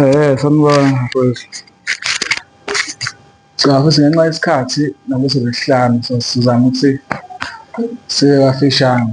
Eh sanibona mfowethu. Cha futhi ngenxa yesikhathi nakuthi lesihlanu so sizama ukuthi sibe bafishane.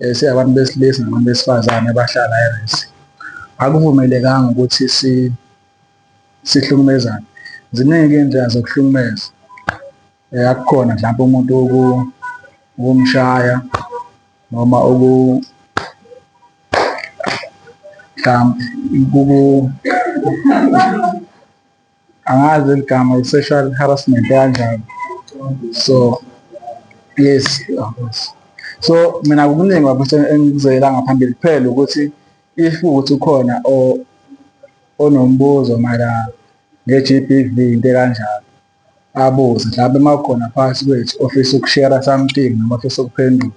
um singabantu besilisa nabantu besifazane abahlala eresi akuvumelekanga ukuthi sihlukumezane ziningi iy'ndlela zokuhlukumeza um akukhona mhlawumpe umuntu ukumshaya noma mhlawumbe angazi eligama i-sexual harassment kanjani so yes so mina kuningi bafisa engikuzela ngaphambili kuphela ukuthi if ukuthi ukhona onombuzo mara nge-GBV into ekanjalo abuze mhlawumbe uma kukhona phakathi kwethu ofisa ukushera something noma ofisa ukuphendula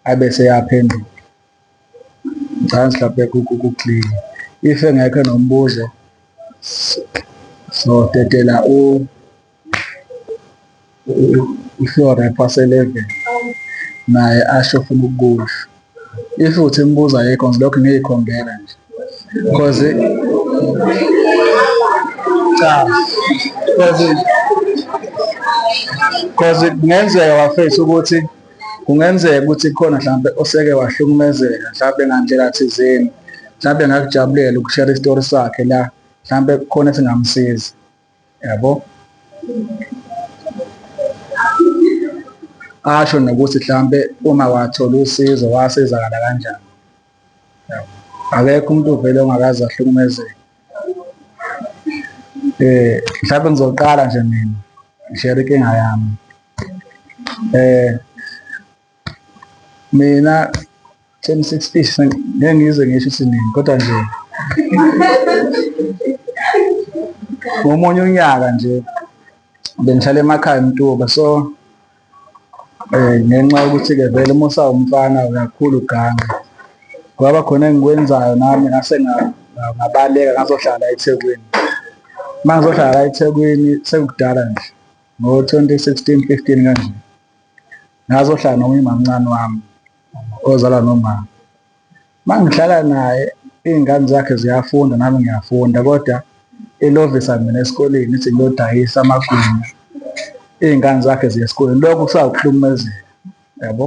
abe seyaphendula ngicela sihlaphe kuclean if engekho nombuzo so dedela u uhlore phase 11 naye asho ufuna ukukusho if uthi imibuzo ayikho ngilokhu ngiyikhombela nje because cha because because kungenzeka bafethu ukuthi kungenzeka ukuthi khona mhlawumbe oseke wahlukumezeka mhlawumbe ngandlela thizeni mhlawumbe ngakujabulela ukushare isitori sakhe la mhlawumbe kukhona esingamsiza yabo asho nokuthi mhlawumbe uma wathola usizo wasizakala kanjani akekho umuntu ovele ongakaze ahlukumezeke eh mhlawumbe ngizoqala nje mina ngishare inkinga yami eh mina 1060 ngeke ngize ngisho isiningi kodwa nje ngomunye unyaka nje bengihlala emakhaya mtuba so um ngenxa yokuthi-ke vele uma usawumfana uyakhula ugange kwaba khona engikwenzayo nami ngase ngabaleka ngazohlala ethekwini uma ngizohlala ethekwini sekukudala nje ngo-twenty sixteen fifteen kanje ngazohlala nomunye umamncane wami ozalwa nomama uma ngihlala naye iy'ngane zakhe ziyafunda nami ngiyafunda kodwa ilovisa mina esikoleni ithi ngiyodayisa amagwinya iy'ngane zakhe ziya esikoleni lokho kusawukuhlumezeka yabo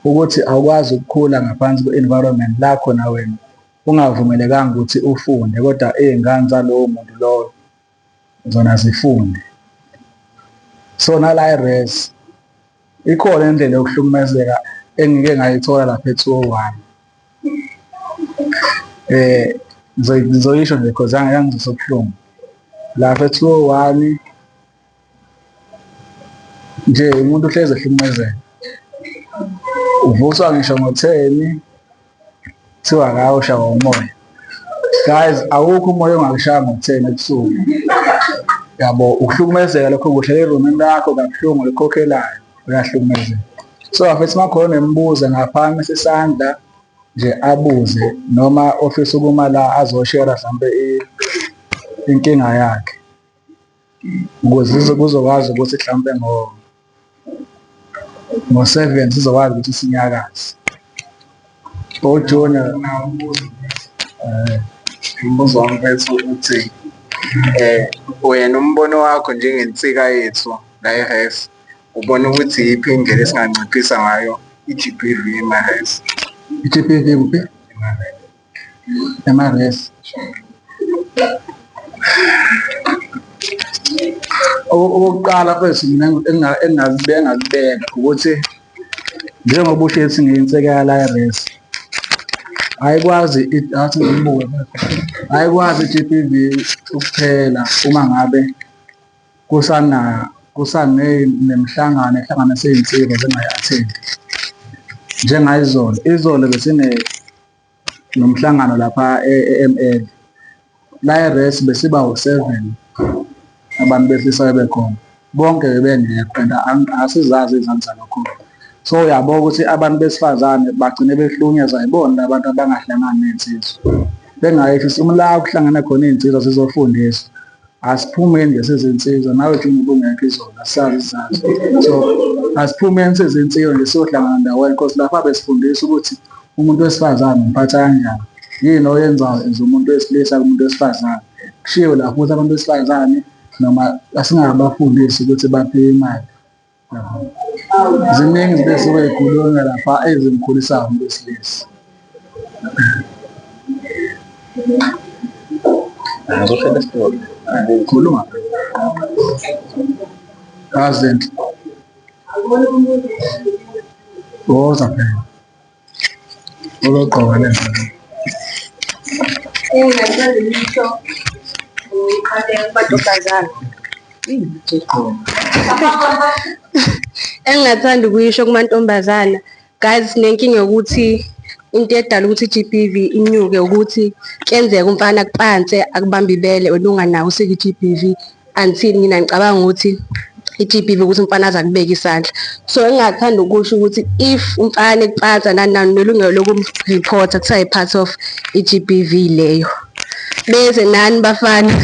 ukuthi awukwazi ukukhula ngaphansi kwe-environment lakho na wena ungavumelekanga ukuthi ufunde kodwa iy'ngane zalowo muntu lowo zona zifunde so nala i-res ikhona indlela yokuhlukumezeka engike ngayithola lapha e-two oh one eh ngizoyisho nje cause yangizosobuhlungu lapha e-two oh one nje umuntu uhlezi ehlukumezeka uvuswa ngisho ngotheni kuthiwa ngawo ushawa umoya guys awukho umoya ongakushaya ngokutheni ebusuku yabo ukuhlukumezeka lokho kuhle erumini lakho kabuhlungu likhokhelayo uyahlukumezeka so afethi uma khona embuza ngaphansi sesandla nje abuze noma ofisa ukuma la azoshera mhlampe inkinga yakhe ukuze kuzokwazi ukuthi mhlawumpe ngo ngo-seven sizokwazi ukuthi sinyakaze ojunior eh, umbuzo wami mfethu ukuthi um wena umbono wakho njengensika yethu la e-res ubona ukuthi yiphi indlela esinganciphisa ngayo i-g b v ema-res i-g b v kuphi Namaresi. Okokuqala mfethu mina engingazibeka ukuthi njengoba usho ethi ngiyinsekela la eresi ayikwazi athi ngibuke ayikwazi i-GBV ukuphela uma ngabe kusana kusanemhlangano ehlanganisa iy'nsika zingayatheli njengayizolo izolo besine nomhlangano lapha e-ML la e-res besiba u-seven abantu behlisa bebekhona bonke bebengekho and asizazi izansi zalokhona so uyabo ukuthi abantu besifazane bagcine behlukunyezwa yibona abantu abangahlangani ney'nsizwa bengayehlisa umla kuhlangana khona iy'nsizwa zizofundisa asiphumeni nje sezinsizwa nawe juni ubungekho izona sazi zazi so asiphumeni sezinsizwa nje siyohlangana ndawonye because lapha besifundisa ukuthi umuntu wesifazane umphatha kanjani yini oyenzayo as umuntu wesilisa kumuntu wesifazane kushiwo lapho ukuthi abantu besifazane noma asingabafundisi ukuthi baphiwe imali ziningi izinto esuke yikhulunywa lapha ezimkhulisa umuntu wesilisa ngizoshela isitori khuluma azinhle woza phela Uzoqoka le mali. Ungathanda lutho. Uqale abantu bazana. engingathanda ukuyisho kumantombazana guys sinenkinga yokuthi into edala ukuthi i-GBV inyuke ukuthi kuyenzeka umfana kupanse akubambe ibele wena unganawo usike i-GBV until mina ngicabanga ukuthi i-GBV ukuthi umfana aze akubeke isandla so engingathanda ukusho ukuthi if umfana ekucansa nani nani nelungelo lokumreporta kuthiwa yi-part of i-GBV leyo beze nani bafana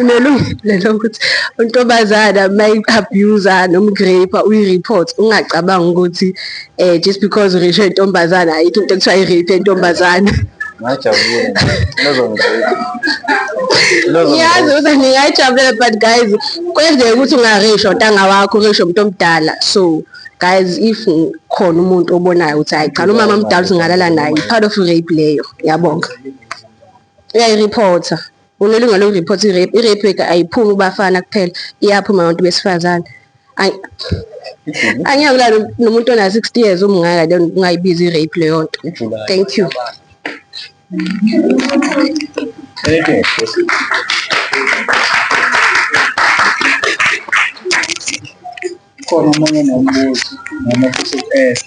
nelungelo lokuthi untombazana uma i-abuser noma uku-rape uyi-report ungacabanga ukuthi eh just because urishe intombazana ayikho into ekuthiwa i-rape yentombazana ngajabula nozongizeka ngiyazi ukuthi ngingayijabulela but guys kwenzeka ukuthi ungarisho ntanga wakho urisho umuntu omdala so guys if khona umuntu obonayo ukuthi hayi cha umama mdala usingalala naye part of rape leyo yabonga uyayireporter Unelunga lokuripotha i-rape. I-rape rate ayiphumi kubafana kuphela, iyaphuma abantu besifazane. Angiyakulala nomuntu ona-60 years umngaka then ungayibizi i-rape leyo nto. Thank you. Khona omunye nombuzo noma futhi u-ask.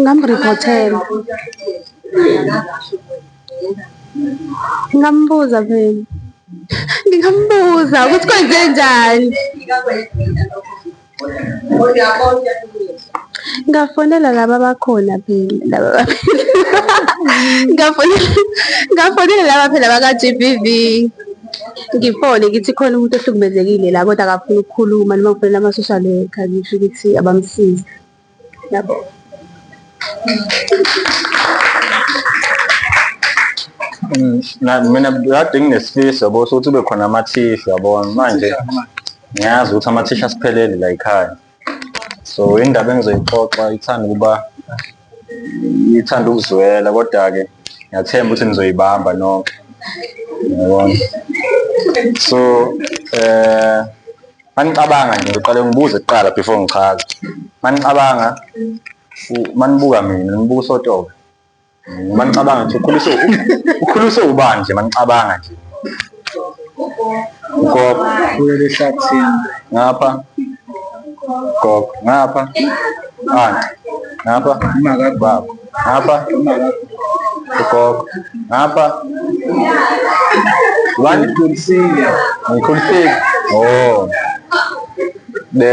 Ngamriphothela. Ngingambuza phela. Ngingambuza ukuthi kwenze njani. Ngafonela laba abakhona phela laba ngafonela ngafonela laba phela baka-GBV. ngifone ngithi khona umuntu ohlukumezekile la kodwa akafuni ukukhuluma noma ngifonela ama-social worker ngisho ukuthi abamsize yabo mm, mina kade nginesifiso bo sokuthi ube khona amathisha yabona manje ngiyazi ukuthi amathisha asiphelele la yikhaya so indaba engizoyixoxa ithanda ukuba ithanda ukuzwela kodwa-ke ngiyathemba ukuthi nizoyibamba nonke yabona so eh manicabanga nje ngiqale ngibuze kuqala before ngichaze manicabanga manibuka mina nibuka usotobe manicabanga nje ukhuliswe ukhuliswe ubani nje manicabanga nje ugogo kuleli hlathini ngapha gogo ngapha anti ngapha imaka baba ngapha imaka ugogo ngapha wani kulisile ngikhulisile oh de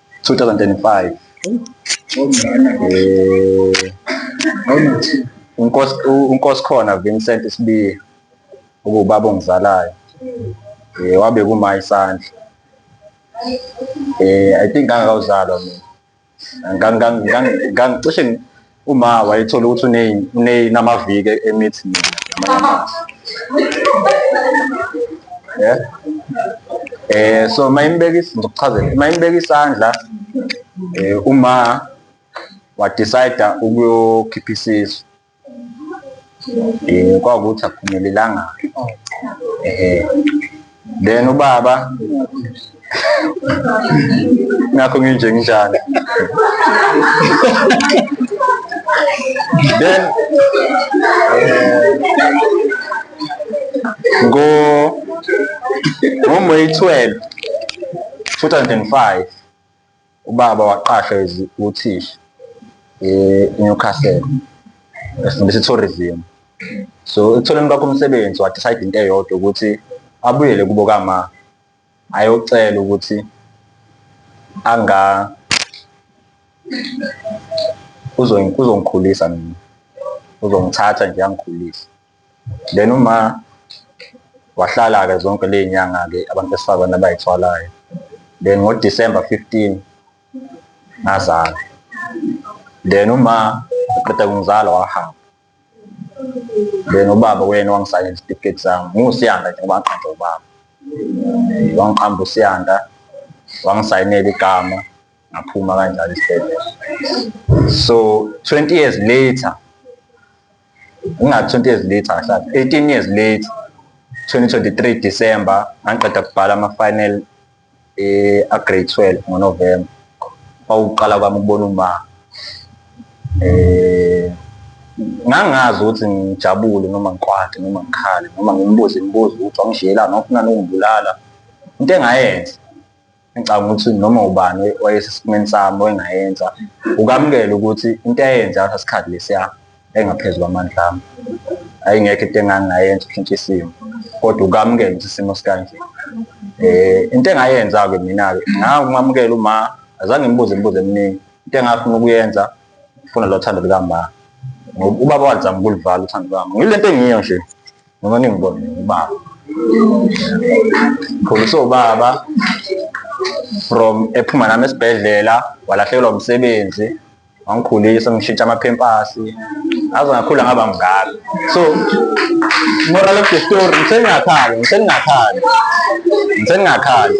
2025 eh unkosi unkosi khona Vincent Sibiya ubaba ongizalayo eh wabe kuma isandla eh i think angawuzalwa mina ngangicishe uma wayethola ukuthi unamaviki emithi yeah. eh so mayimbeka ngizokuchazela mayimbeka isandla eh uma wa decide ukuyokhipha isisu um kwakukuthi akuphumelelanga um then ubaba nakho nginje nginjani then ngo ngoMay 12 2005 Ubaba waqashwa uthisha e-Newcastle efundisa i-tourism. So ekutholeni kwakho umsebenzi wadecide into eyodwa ukuthi abuyele kubo kama ayocela ukuthi anga uzongikhulisa mina uzongithatha nje angikhulise. then uma wahlala-ke zonke ley'nyanga-ke abantu besifazane abayithwalayo then ngo-december 15 ngazala then uma uqeda kungizala wahamba then ubaba wena wangisayela isitifiketi sami ngiwusiyanda nje ngoba ngaqamba ubaba wangiqamba usiyanda wangisayinela igama ngaphuma kanjalo isibhedlela so 20 years later Nginga-20 years later ngahlala 18 years later 2023 December ngangiqeda kubhala ama-final eh, a-grade 12 ngonovemba kwawukuqala kwami ukubona uma eh ngangazi ukuthi ngijabule noma ngikwade noma ngikhale noma ngimbuze imibuzo ukuthi wangishiyelani wafuna nokungibulala into engayenza engicabanga ukuthi noma ubani wayesesimeni sami oyengayenza ukamukela ukuthi into ayenze ngaleso sikhathi lesiya engaphezu kwamandla ami ayingekho into engangingayenza ukushintsha isimo kodwa ukamukela ukuthi isimo sikanje eh into engayenza-ke mina-ke ngakumamukela uma azange ngibuze imibuzo eminingi into engafuna ukuyenza funa lo thando lukamama ngoba ubaba wazama ukulivala uthando lwami ngile nto engiyo nje noma ningibone ngubaba pholisa ubaba from ephuma nami esibhedlela walahlekelwa umsebenzi wangikhulisa ngishintsha amaphempasi aze ngakhula ngaba mngaka so moral of the story ngisengingakhali ngisengingakhali ngisengingakhali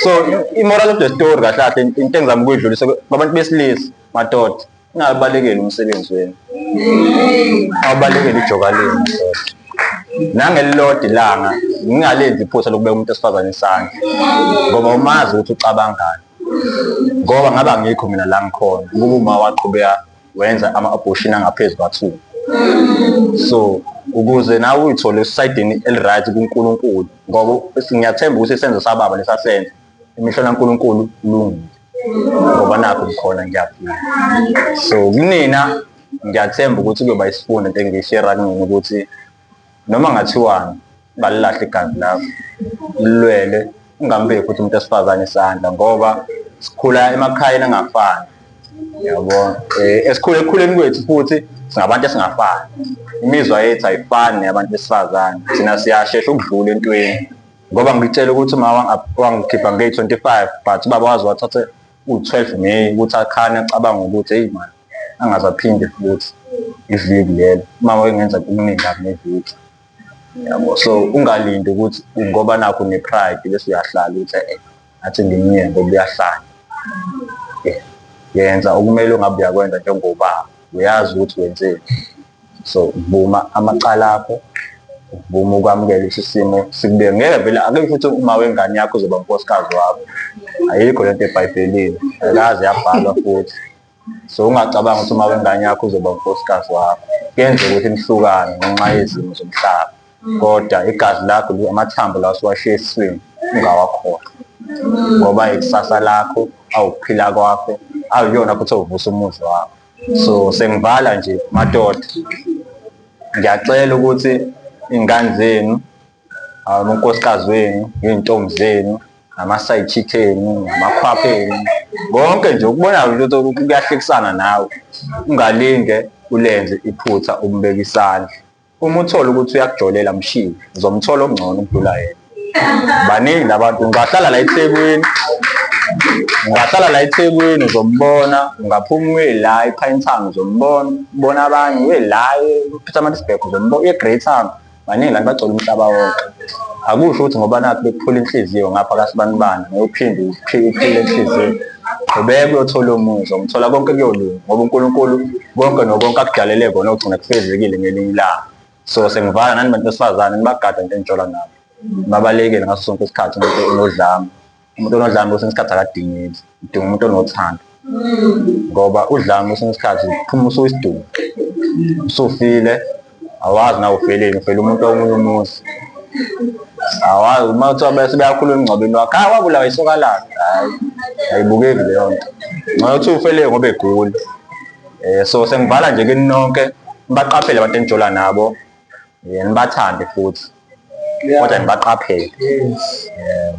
so i-moral of the story kahle kahle into engizama ukuyidlulisa kwabantu besilisa madoda Ningabalekeli umsebenzi wenu. Abalekeli ijoka lenu mfowethu. Nangelilodwa ilanga ngingalenzi iphutha lokubeka umuntu esifazane isandla ngoba umazi ukuthi ucabangani. Ngoba ngabe angikho mina la ngikhona ukuba uma waqhubeka wenza ama-abortion angaphezu kwathu. So ukuze nawe uyithole esaydini eli-right kuNkulunkulu ngoba ngiyathemba ukuthi isenzo sababa lesasenza. imihlola kaNkulunkulu kulungile ngoba nakho ngikhona ngiyaphila so kunina ngiyathemba ukuthi kuyoba isifundo into engiyishera kunina ukuthi noma ngathiwani ungalilahle igazi lakho lilwele ungambeki futhi umuntu esifazane isandla ngoba sikhula emakhayeni angafani yabo eh, esikhule ekukhuleni kwethu futhi singabantu esingafani imizwa yethu ayifani neyabantu besifazane thina siyashesha ukudlula entweni ngoba ngitshela ukuthi uma wangikhipha ngeyi-25 but ubaba waze wathathe u-12 may ukuthi akhane acabanga ukuthi eyi mani angazaphinde futhi iviki lelo uma wayengenza kuningi kabi neviki yabo so ungalindi ukuthi ngoba nakho ne-pride bese uyahlala ukuthi e athi ngimnye ngoba uyahlala yenza okumele ungabe uyakwenza njengobaba uyazi ukuthi wenzeni so vuma amacala akho vuma ukwamukela isisimo sikube ngeke vele akekho futhi uma wengane yakho uzoba unkosikazi wakho ayikho lento ebhayibhelini ayikaze yabhalwa futhi so ungacabanga ukuthi uma wengane yakho uzoba unkosikazi wakho kuyenzeka ukuthi nihlukane ngenxa yezimo zomhlaba kodwa igazi lakho amathambo lawo siwashiye esiswini ungawakhohlwa ngoba ikusasa lakho awukuphila kwakho awuyona futhi ovusa umuzi wakho so sengivala nje madoda ngiyacela ukuthi iy'ngane zenu unkosikazi wenu iy'ntombi zenu nama-side chick enu namakhwapha enu konke nje ukubonayo nje ukuthi kuyahlekisana nawe ungalinge ulenze iphutha umbeka isandla Uma uthola ukuthi uyakujolela mshiye, uzomthola okungcono ukudlula yena. Baningi labantu ngibahlala la eThekwini. Ngibahlala la eThekwini uzombona, ungaphuma uye la ePine Town uzombona, ubona abanye uye la ePietermaritzburg uzombona, uye eGreytown. Baningi la bagcwele umhlaba wonke. Akusho ukuthi ngoba nakhu bekuphula inhliziyo ngapha kaSibanibani, ngoyophinde uphile inhliziyo. qhubeka uyothola omunye uzomthola konke kuyolunga ngoba unkulunkulu konke nokonke akudalele kona ogcina kufezekile ngelinye ilanga so sengivala nani bantu besifazane nibagada into engitshola nabo babalekele ngaso sonke isikhathi umuntu onodlame umuntu onodlame kwesinye isikhathi akadingeki udinga umuntu onothando ngoba udlame kwesinye isikhathi phuma usuyisidumbu usufile awazi nawe ufeleni ufela umuntu omunye umuzi awazi uma kuthiwa bese beyakhuluma emngcwabeni wakhe hayi wabulawa isoka lakhe hayi ayibukeki leyo nto ngoba kuthiwa ufele ngoba egula um so sengivala nje kini nonke nibaqaphele abantu enijola nabo um nibathande futhi kodwa nibaqaphele um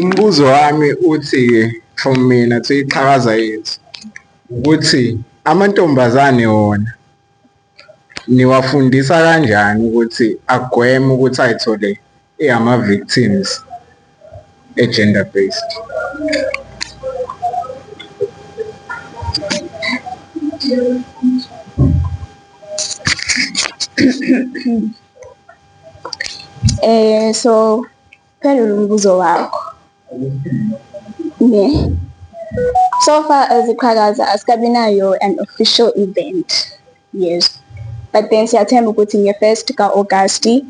Umbuzo wami uthi from mina to iqhakaza yethu ukuthi amantombazane wona niwafundisa kanjani ukuthi agweme ukuthi ayithole eyama-victims e-gender based eh so Phendula umbuzo wakho. Ne. So far as iqhakaza asikabi nayo an official event. Yes. But then siyathemba ukuthi nge-first ka-Agasti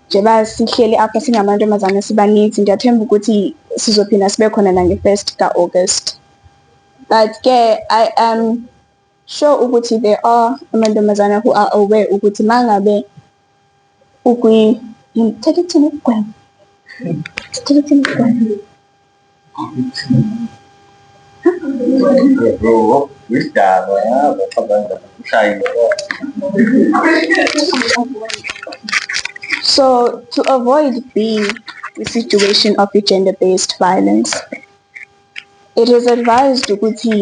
njengoba sihleli apha singamantombazane sibaninzi ngiyathemba ukuthi sizophinda sibe khona nange-first ka-August. But ke I am um, sure ukuthi there are amantombazana who are aware ukuthi mangabe ukwi ngithatha ukuthini ukugwema ngithatha ukuthini ukugwema Bro, isdaba yabo cabanga ushayile. So to avoid being the situation of gender-based violence, It is advised ukuthi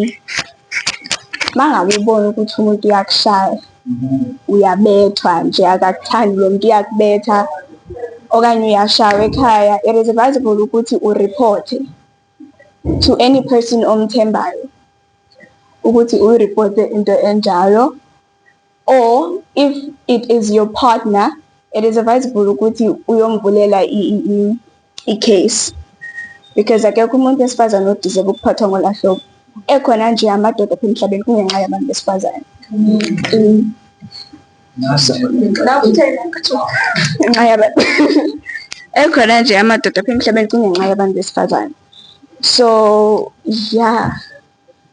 mangabe ubona ukuthi umuntu uyakushaya uyabethwa nje akakuthandi lo muntu uyakubetha okanye uyashawa ekhaya it is advisable ukuthi ureporte to any person omthembayo ukuthi uyireporte into enjalo or if it is your partner it is advisable ukuthi uyomvulela i-case because akekho umuntu wesifazane odeserve ukuphathwa ngolahlobo ekhona nje amadoda apha emhlabeni kungenxa yabantu besifazane ngenxa yabantu ekhona nje amadoda apha emhlabeni kungenxa yabantu besifazane so yeah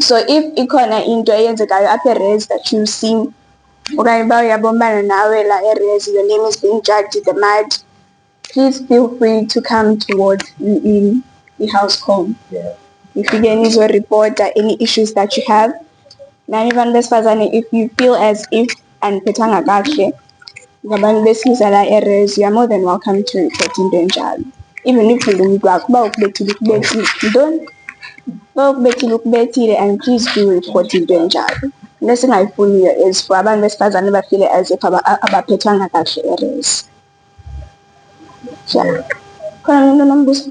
so if ikhona into eyenzekayo apha erezi that you see okanye uba uyabombana nawe la erezi your name is being judged in the mud please feel free to come towards in i-house com yeah. nifike nizoreporta any issues that you have nani bantu besifazane if you feel as if andiphethanga kakuhle ngabantu besilisa la erezi you're more than welcome to report into enjalo even if ungumntu wakho uba ukubethile ukubethile ntoni uba ukubethile ukubethile and please do report into enjalo into esingayifuniyo is for abantu besifazane bafile as if abaphethwanga kakuhle erezi yeah khona umuntu onombuzo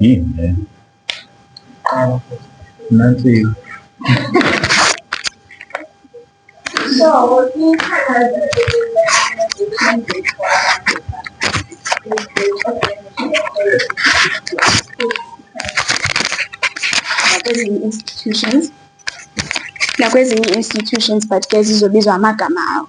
Yini le? Nansi nakwezinye institutions nakwezinye institutions but ke zizobizwa amagama awo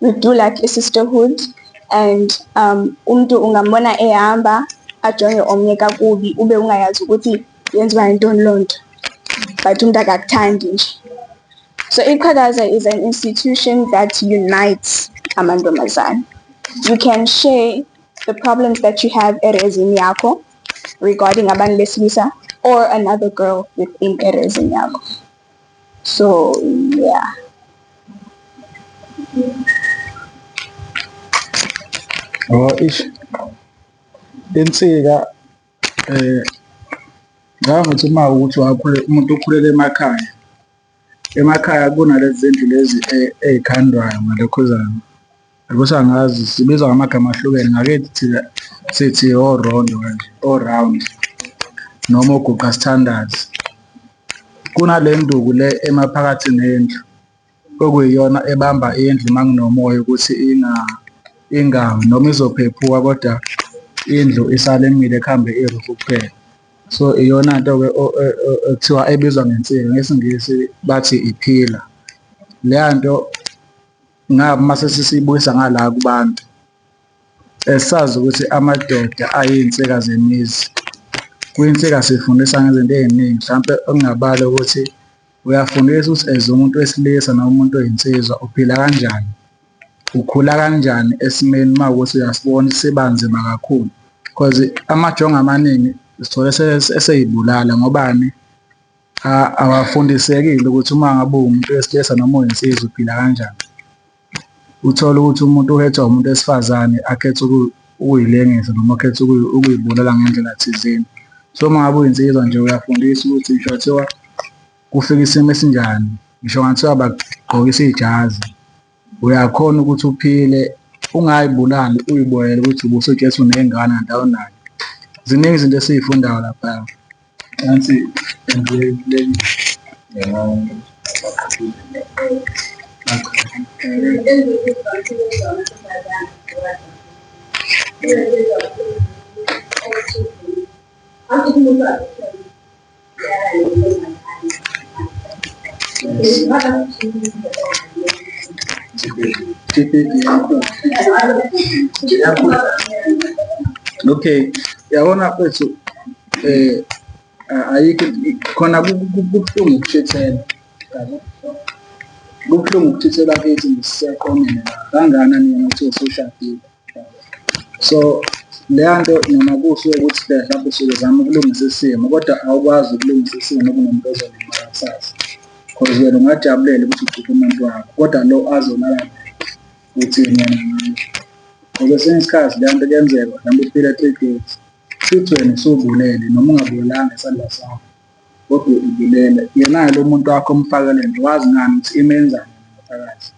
we do like a sisterhood and um umuntu ungambona ehamba ajonge omnye kakubi ube ungayazi ukuthi yenziwa yintoni loo nto but umuntu akakuthandi nje so iqhakaza is an institution that unites amantombazane you can share the problems that you have erezini yakho regarding abantu besilisa or another girl within erezini yakho so yeah oh ish insika eh ngicabanga ukuthi uma ukuthi wakhule umuntu ukhulele emakhaya emakhaya kunalezi zindlu lezi eh, ey'khandwayo ngalokhuzana Ukuthi angazi sibizwa ngamagama ahlukene ngakithi thina sithi orondo kanje oround noma oguqa sithandazi kunale nduku le emaphakathi nendlu okuyiyona ebamba indlu uma kunomoya ukuthi inga ingawi noma izophephuka kodwa indlu isale imile kuhambe irufu kuphela so iyona nto ke ekuthiwa ebizwa ngensika ngesingisi bathi iphila leya nto ngaba mase sisibuyisa ngala kubantu esazi ukuthi amadoda ayinsika zemizi kwinsika sifundisa ngezinto eziningi mhlawumbe okungabala ukuthi uyafundisa ukuthi as umuntu wesilisa noma umuntu oyinsizwa uphila kanjani ukhula kanjani esimeni uma ukuthi uyasibona sibanzima kakhulu because amajongo amaningi sithole eseyibulala ngobani Cha awafundisekile ukuthi uma ngabe uwumuntu wesilisa noma uyinsizwa uphila kanjani. Uthole ukuthi umuntu uhethwa umuntu wesifazane akhethe ukuyilengisa noma akhethe ukuyibulala ngendlela thizeni. So uma ngabe uyinsizwa nje uyafundiswa ukuthi ngisho kuthiwa kufika isimo esinjani, ngisho kungathiwa bakugqokisa ijazi. Uyakhona ukuthi uphile ungayibulali uyiboyele ukuthi ubuso Jesu nezingane and awunayo. Ziningi izinto esizifundayo lapha. Nansi endleleni. Thank you. okay yabona kwethu eh ayikho khona kubuhlungu ukushithela yabo kubuhlungu ukuthithela kithi ngisiyaqomela kangana nina ukuthi usushadile so leya nto noma kuhle ukuthi phela mhlawumbe usuke uzama ukulungisa isimo kodwa awukwazi ukulungisa isimo kunomuntu ozolimala kusasa cause wena ungajabulela ukuthi ukhiphe umuntu wakho kodwa lo azolala ukuthi yena ngayo ngoba esinye isikhathi leya nto kuyenzeka mhlawumbe uphile three days futhi wena usubulele noma ungabulelanga isandla sakho kodwa ubulele yena lo muntu wakho omfakele nje wazi ngani ukuthi imenzani phakathi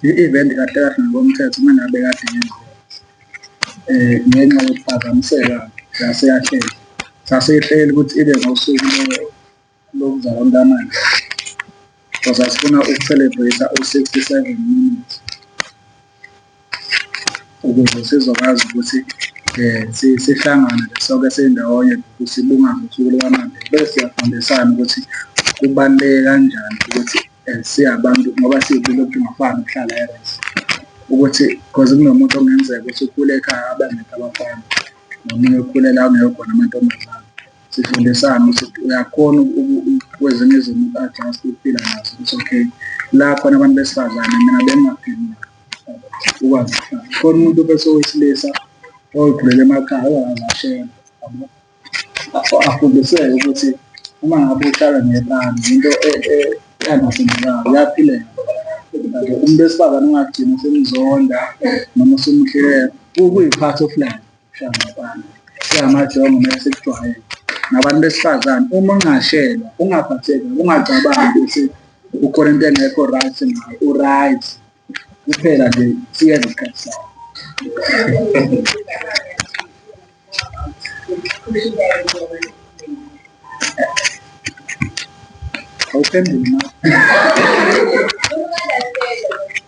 i-event kahle kahle ngokomthetho uma ngabe kade yenziwa eh ngenxa yokuphazamiseka sase yahleli sase ihleli ukuthi ibe ngosuku lokuza kontamanje because asifuna uku-celebrate u-67 minutes ukuze sizokwazi ukuthi um sihlangane soke sindawonye sibungaze usuku lukamanje bese siyafundisana ukuthi kubaluleke kanjani ukuthi um siyabantu ngoba siyibile ukuthi ungafani ukuhlala eres ukuthi because kunomuntu okungenzeka ukuthi ukhule ekhaya abaningi abafana nomunye ukhulela ungekho khona amantombazane sifundisane ukuthi uyakhona kwezinye izinto uku-adjust ukuphila nazo ukuthi okay la khona abantu besifazane mina bengingaphili ukwazi ukuhlala khona umuntu bese owesilisa oyigulele emakhaya ongakaze ashela yabo afundiseke ukuthi uma ngabe uhlala nebani into engasenzekayo e, uyaphileka umuntu wesifazane ungagcina usemzonda noma usumhleka kuyiphathi ofulayo siyamajongo mele sikujwayele nabantu besifazane uma ungashelwa ungaphatheka ungacabangi ukuthi ukhona into engekho right ngayo u-right kuphela nje siyeza isikhathi sakho awuphenduli na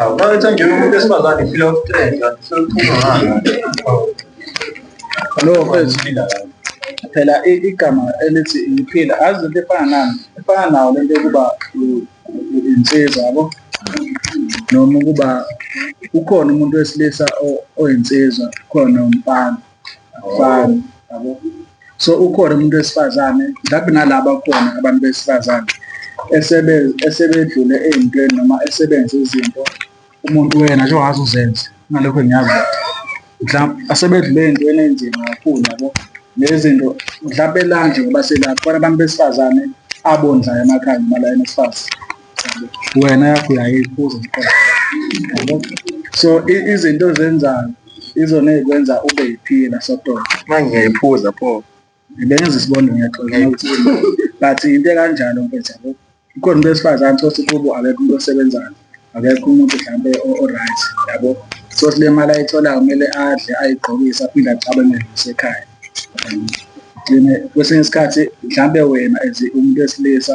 Awuqaletha nje umuntu esifazane feel of threat, sokuphuma ngalo. Lo mfethu phila la. Phela i- igama elithi ngiphila azi into efana nani efana nawo lento yokuba u- u- insizwa yabo noma ukuba ukhona umuntu wesilisa o- oyinsizwa khona umfana afani yabo so ukhona umuntu wesifazane mhlawumbe nalaba khona abantu besifazane esebedlule ey'ntweni noma esebenze izinto umuntu wena nje ongaze uzenze ngalokho ngiyazi mhlawumbe asebedlule ey'ntweni ey'nzima kakhulu yabo nezinto mhlawumbe elanje ngoba selapho abantu besifazane abondlayo emakhaya noma la enesifazane wena yakho uyayiphuza so izinto ozenzayo izona ezikwenza ube yiphila sodwa manje ngiyayiphuza pho bengenza isibonda ngiyaxola but into ekanjalo mfethu yabo kukhona umuntu wesifazane sothi kubo akekho umuntu osebenzayo akekho umuntu mhlawumbe o-right yabo sothi le mali ayitholayo kumele adle ayigqokise aphinde acabangele nasekhaya kwesinye isikhathi mhlawumbe wena as umuntu wesilisa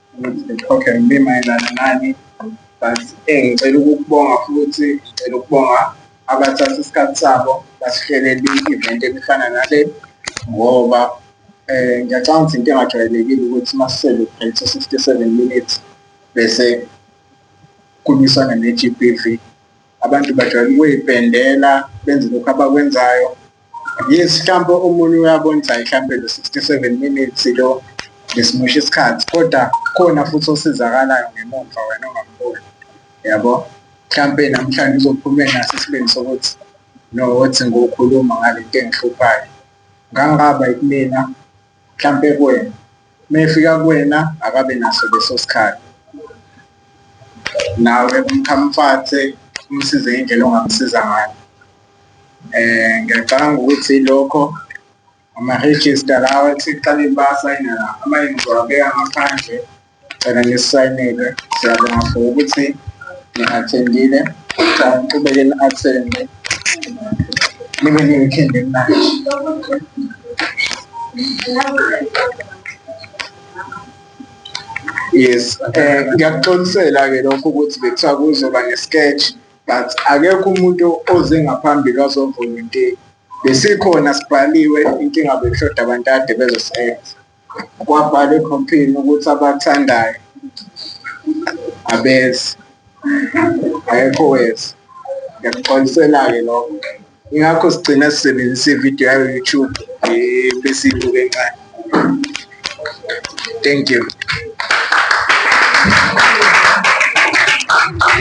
ukuthi ngixoxe ngibe mayelana nani but eh, ngicela ukukubonga futhi ngicela ukubonga abathatha isikhathi sabo basihlelele i-event elifana nale ngoba eh ngiyacanga ukuthi into engajwayelekile ukuthi masisele phethe 67 minutes bese kumisana ne-GBV abantu bajwayele ukuyipendela benze lokhu abakwenzayo yes mhlawumbe omunye uyabonisa mhlawumbe lo 67 minutes lo ngesimosha isikhathi kodwa khona futhi osizakalayo ngemumva wena ongamboni yabo mhlawumbe namhlanje uzophuma naso isibindi sokuthi no wathi ngokhuluma ngale nto engihluphayo ngangaba kumina mhlampe kuwena mefika kuwena akabe naso leso sikhathi nawe umkhamfathe umsize indlela ongamsiza ngayo eh ngiyacabanga ukuthi lokho ama-register lawa ethi kuqala impasa inala ama-ingiwabeka ngaphandle Ngicela ngisayinile. Siyabonga for ukuthi ngi-attendile. Ngicela ngiqhubeke ni-attende. Nibe ne-weekend emnandi. Yes, eh ngiyakuxolisela-ke lokho ukuthi bekuthiwa kuzoba ne-sketch but akekho umuntu oze ngaphambili wazovolunteer. Besikhona sibhaliwe inkinga bekushoda abantu kade bezosebenza. kwabhala ekhompini ukuthi abathandayo abeze ayekho weza ngiyakuxolisela-ke lokho ingakho sigcina sisebenzisa ividiyo yayo youtube besiyibuke encane thank you